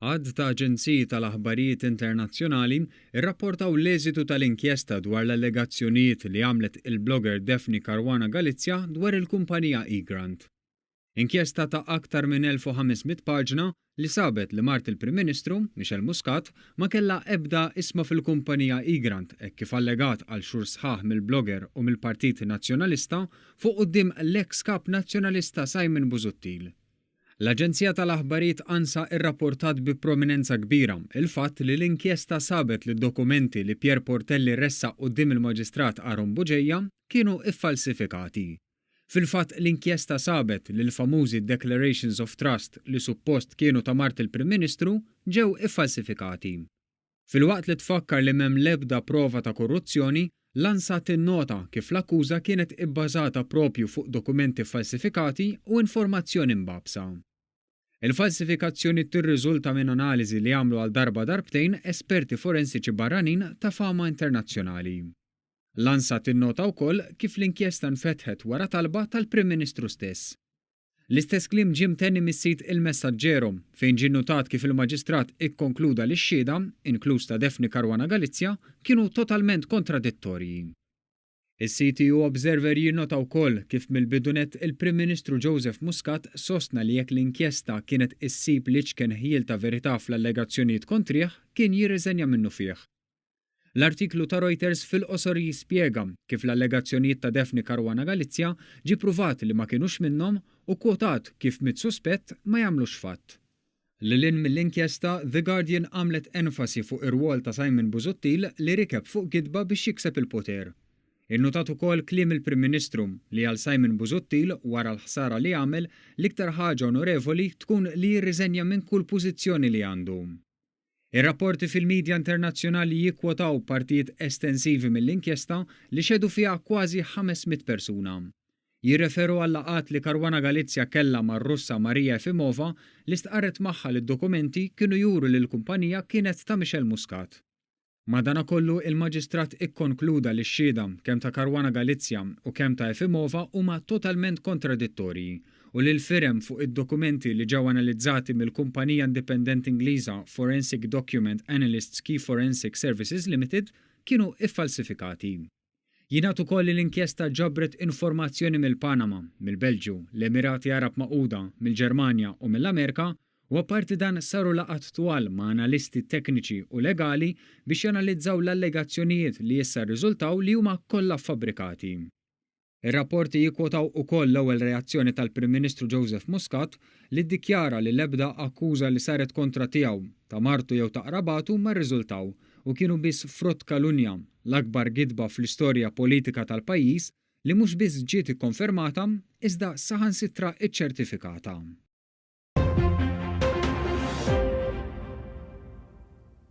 Għadd ta' aġenziji tal-aħbarijiet internazzjonali rrapportaw l-eżitu tal-inkjesta dwar l-allegazzjonijiet li għamlet il-blogger Daphne Caruana Galizia dwar il-kumpanija eGrant. Inkjesta ta' aktar minn 1,500 paġna li sabet li mart il-Prim Ministru, Michelle Muscat, ma kellha ebda isma fil-kumpanija Egrant hekk kif allegat għal xhur sħaħ mill-blogger u mill-Partit Nazzjonalista fuq quddiem l-eks Kap Nazzjonalista Simon Busuttil. L-aġenzija tal-aħbarijiet ANSA irrapportat bi prominenza kbira il-fatt li l-inkjesta sabet li d-dokumenti li Pierre Portelli ressaq quddiem il-Maġistrat Aaron Bugeja kienu iffalsifikati. Fil-fatt l-inkjesta sabet li l-famużi declarations of trust li suppost kienu ta' mart il-Prim Ministru ġew iffalsifikati. Filwaqt li tfakkar li m'hemm l-ebda prova ta' korruzzjoni, l-ANSA tinnota kif l-akkuża kienet ibbażata proprju fuq dokumenti ffalsifikati u informazzjoni mbagħbsa. Il-falsifikazzjoni tirriżulta minn analiżi li għamlu għal darba darbtejn esperti forensiċi barranin ta' fama internazzjonali. L-ANSA tinnota wkoll kif l-inkjesta nfetħet wara talba tal-Prim Ministru stess. L-istess kliem ġie mtenni mis-sit Il Messaggero, fejn ġie nnutat kif il-Maġistrat ikkonkluda li x-xhieda, inkluż ta' Daphne Caruana Galizia, kienu totalment kontradittorji. Is-CTU Observer jinnota wkoll kif mill-bidu nett il-Prim Ministru Joseph Muscat sostna li jekk l-inkjesta kienet issib l-iċken ħjiel ta' verità fl-allegazzjonijiet kontrih, kien jirriżenja minnufih. L-artiklu ta' Reuters fil-qosor jispjega kif l-allegazzjonijiet ta' Daphne Caruana Galizia ġie ppruvat li ma kinux minnhom u kkwotat kif mitt suspett ma jagħmlux fatt. Lil hinn mill-inkjesta, The Guardian għamlet enfasi fuq ir-rwol ta' Simon Busuttil li rikeb fuq gidba biex jikseb il-poter. Innutat ukoll kliem il-Prim Ministru li għal Simon Busuttil, wara l-ħsara li għamel, l-iktar ħaġa onorevoli tkun li jirriżenja minn kull pożizzjoni li għandu. Ir-rapporti fil-midja internazzjonali jikkwotaw partijiet estensivi mill-inkjesta li xehdu fiha kważi ħames mitt persuna. Jirreferu għal-laqgħat li Caruana Galizia kellha mar-Russa Maria Efimova li stqarret magħha li d-dokumenti kienu juru li l-kumpanija kienet ta' Michel Muscat. Madanakollu, il-Maġistrat ikkonkluda li x-xhieda, kemm ta' Caruana Galizia u kemm ta' Efimova, huma totalment kontradittorji u li l-firem fuq id-dokumenti li ġew analizzati mill-kumpanija indipendenti Ingliża Forensic Document Analysts Key Forensic Services Limited kienu ffalsifikati. Jingħad ukoll li l-inkjesta ġabret informazzjoni mill-Panama, mill-Belġju, l-Emirati Għarab Magħquda, mill-Ġermanja u mill-Amerika u apparti dan saru laqgħat twal ma' analisti tekniċi u legali biex janalizzaw l-allegazzjonijiet li issa rriżultaw li huma kollha ffabrikati. Ir-rapporti jikkwotaw ukoll l-ewwel reazzjoni tal-Prim Ministru Joseph Muscat li ddikjara li l-ebda akkuża li saret kontra tiegħu, ta' martu jew ta' qrabatu ma rriżultaw. u kienu biss frott kalunja, l-akbar gidba fl-istorja politika tal-pajjiż li mhux biss ġiet ikkonfermata iżda saħansitra ċċertifikata.